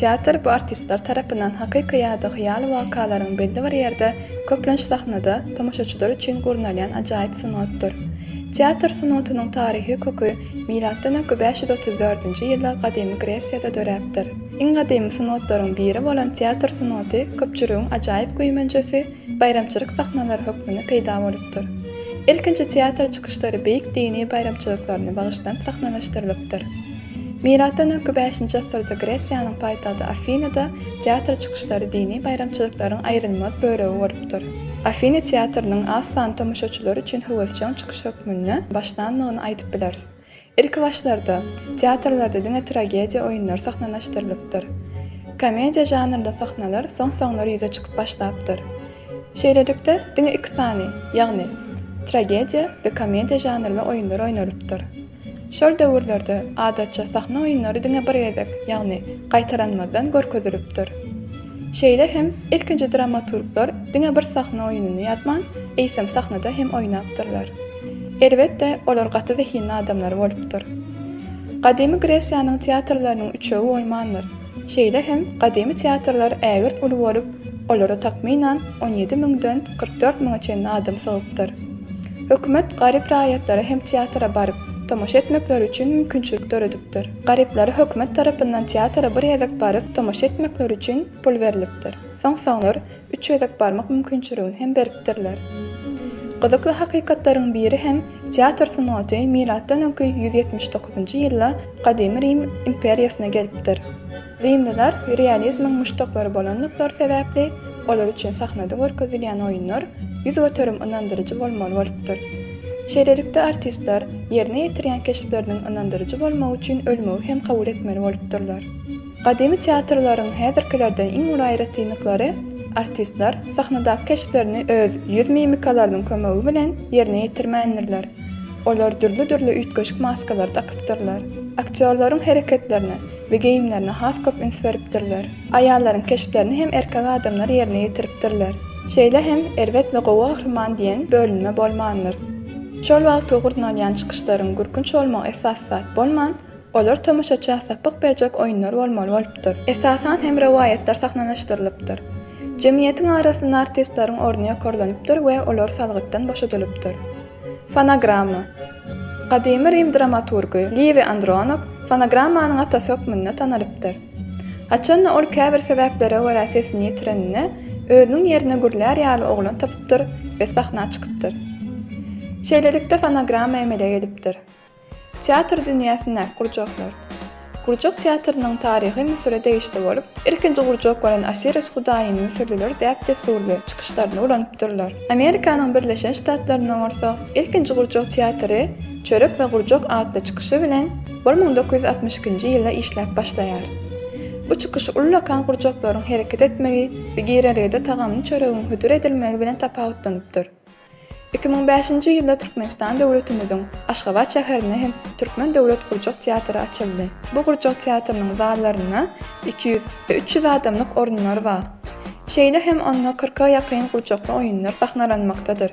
Teatr bu artistler tarapyndan hakyky ýa-da hyýaly wakalaryň belli bir ýerde, köplenç sahnada, tomaşaçylar üçin gurnalýan ajaýyp sungatdyr. Teatr sungatynyň taryhy köki milatdan öňki bäş ýüz otuz dördünji ýylda gadymy Gresiýada döräpdir. Iň gadymy sungatlaryň biri bolan teatr sungaty köpçüligiň ajaýyp güýmenjesi, baýramçylyk sahnalary hökmünde peýda bolupdyr. Ilkinji teatr çykyşlary beýik dini baýramçylyklaryna bagyşlanyp sahnalaşdyrylypdyr. Milatdan öňki bäşinji asyrda Gresiýanyň paýtagty Afinada teatr çykyşlary dini baýramçylyklaryň aýrylmaz bölegi bolupdyr. Afina teatrynyň az sanly tomaşaçylar üçin höwesjeň çykyş hökmünde başlandygyny aýdyp bileris. Ilkibaşlarda, teatrlarda diňe tragediýa oýunlary sahnalaşdyrylypdyr. Komediýa žanrly sahnalar soň-soňlar ýüze çykyp başlapdyr. Şeýlelikde, diňe iki sany, ýagny, tragediýa we komediýa žanrly oýunlar oýnalypdyr. Şol döwürlerde, adatça, sahna oýunlary diňe bir gezek, ýagny gaýtalanmazdan görkezilipdir. Şeýle hem, ilkinji dramaturglar diňe bir sahna oýunyny ýazman, eýsem sahnada hem oýnapdyrlar. Elbetde, olar gaty zehinli adamlar bolupdyr. Gadymy Gresiýanyň teatrlarynyň üçegi bolmandyr. Şeýle hem gadymy teatrlar ägirt uly bolup, olara takmynan on ýedi müňden kyrk dört müňe çenli adam sygypdyr. Hökümet garyp raýatlara hem teatra baryp, tomaşa etmekleri üçin mümkinçilik döredipdir. Garyplara hökümet tarapyndan teatra bir gezek baryp, tomaşa etmekleri üçin pul berlipdir. Soň-soňlar üç gezek barmak mümkinçiligini hem beripdirler. Gyzykly hakykatlaryň biri hem teatr sungaty milatdan öňki ýüz ýetmiş dokuzynjy ýylda Gadymy Rim imperiýasyna gelipdir. Rimliler realizmiň muşdaklary bolandyklary sebäpli olar üçin sahnada görkezilýän oýunlar ýüz göterim ynandyryjy bolmaly bolupdyr. Şeýlelikde artistler ýerine ýetirýän keşpleriniň ynandyryjy bolmagy üçin ölmegi hem kabul etmeli bolupdyrlar. Gadymy teatrlaryň häzirkilerden iň uly aýratynlyklary, artistler sahnadaky keşplerini öz ýüz mimikalarynyň kömegi bilen ýerine ýetirmändirler. Olar dürli-dürli üýtgeşik maskalary dakypdyrlar. Aktýorlaryň hereketlerine we geýimlerine has köp üns beripdirler. Aýallaryň keşplerini hem erkek adamlar ýerine ýetiripdirler. Şeýle hem erbet we gowy gahryman diýen bölünme bolmandyr. Şol wagtky gurnalýan çykyşlaryň gürkünç bolmagy esasy zat bolman, Olar tomaşaça sapyk berjek oýunlar bolmaly bolupdyr. Esasan hem rowaýatlar sahnalashdyrylypdyr. Jemgyýetiň arasynda artistleriň orny ýokarlanypdyr we olar salgytdan boşadylypdyr. Fonogramma. Gadymy Rim dramaturgy Liwi Andronok fonogrammanyň atasy hökmünde tanalypdyr. Haçanda ol käbir sebäplere görä sesini ýitireninde, özüniň ýerine gürlär ýaly oglan tapypdyr we sahna çykypdyr. Şeýlelikde fonogramma emele gelipdir. Teatr dünýäsindäki gurjaklar. Gurjak teatrynyň taryhy Müsüre degişli bolup, ilkinji gurjak bolan Osiris hudaýyny müsürliler däp-dessurly çykyşlarynda ulanypdyrlar. Amerikanyň Birleşen Ştatlarynda bolsa ilkinji gurjak teatry Çörek we gurjak atly çykyşy bilen bir müň dokuz ýüz altmyş ikinji ýylda işläp başlaýar. Bu çykyş ullakan gurjaklaryň hereket etmegi we girelgede tagamly çöregiň hödür edilmegi bilen tapawutlanypdyr. Iki müň bäşinji ýylda Türkmenistan döwletimiziň Aşgabat şäherinde hem Türkmen döwlet gurjak teatry açyldy. Bu gurjak teatrynyň zallarynda iki ýüz we üç ýüz adamlyk orunlar bar. Şeýle hem onda kyrka ýakyn gurjakly oýunlar sahnalanmakdadyr.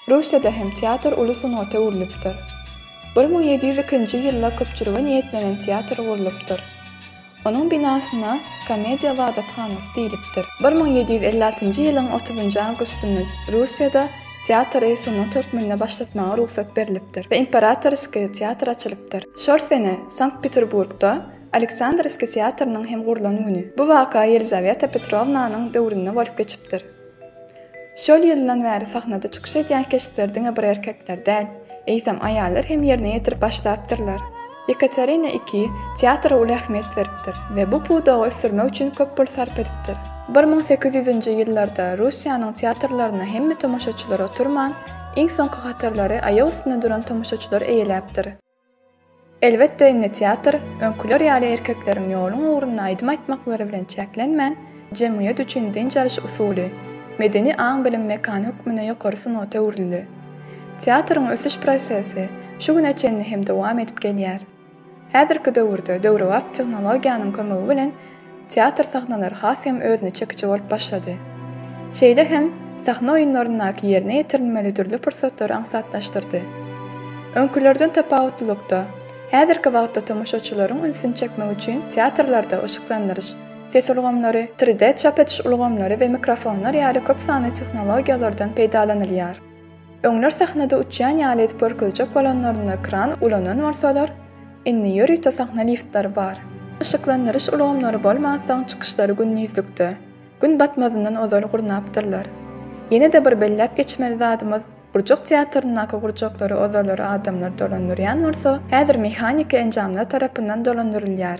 Russiýada hem teatr uly sungata öwrülipdir. Bir müň ýedi ýüz ikinji ýylda köpçülige niýetlenen teatr gurlupdyr. Onuň binasyna Komediýa ybadathanasy diýlipdir. Bir müň ýedi ýüz elli altynjy ýylyň otuzynjy awgustynda Russiýada teatry sungat hökmünde başlatmaga rugsat berlipdir we Imperatorskiý teatry açylypdyr. Şol sene Sankt-Peterburgda Aleksandrowskiý teatrynyň hem gurlan güni. Bu waka Ýelizaweta Petrownanyň döwründe bolup geçipdir. Şol ýyldan bäri sahnada çykyş edýän keşpleri diňe bir erkekler däl, eýsem, aýallar hem ýerine ýetirip başlapdyrlar. Ýekaterina ii teatra uly ähmiýet beripdir we bu pudagy ösdürmek üçin köp pul sarp edipdir. Bir müň sekiz ýüzünji ýyllarda Russiýanyň teatrlaryna hemme tomaşaçylar oturman, iň soňky hatarlary aýak üstünde duran tomaşaçylar eýeläpdir. Elbetde, indi teatr, öňküler ýaly erkekleriň ýoluň ugrunda aýdym aýtmaklary bilen çäklenmän, jemgyýet üçin dynç alyş usuly, medeni aň-bilim mekany hökmünde ýokary sungata öwrüldi. Teatryň ösüş prosesi şu güne çenli hem dowam edip gelýär. Häzirki döwürde döwrebap tehnologiýanyň kömegi bilen Teatr sahnalary has hem özüne çekiji bolup başlady. Şeýle hem sahna oýunlaryndaky ýerine ýetirilmeli dürli pursatlary aňsatlaşdyrdy. Öňkülerden tapawutlylykda, häzirki wagtda tomaşaçylaryň ünsüni çekmek üçin teatrlarda yşyklandyryş, ses ulgamlary, tri-de çap ediş ulgamlary we mikrofonlar ýaly köp sanly tehnologiýalardan peýdalanylýar. Öňler sahnada uçýan ýaly edip görkezjek bolanlarynda kran ulanan bolsalar, indi ýörite sahna liftleri bar. Yşyklandyryş ulgamlary bolmansoň çykyşlary gündizlikde, gün batmazyndan ozal gurnapdyrlar. Ýene-de bir belläp geçmeli zadymyz, Gurjak teatryndaky gurjaklary ozallar adamlar dolandyrýan bolsa, häzir mehaniki enjamlar tarapyndan dolandyrylýar.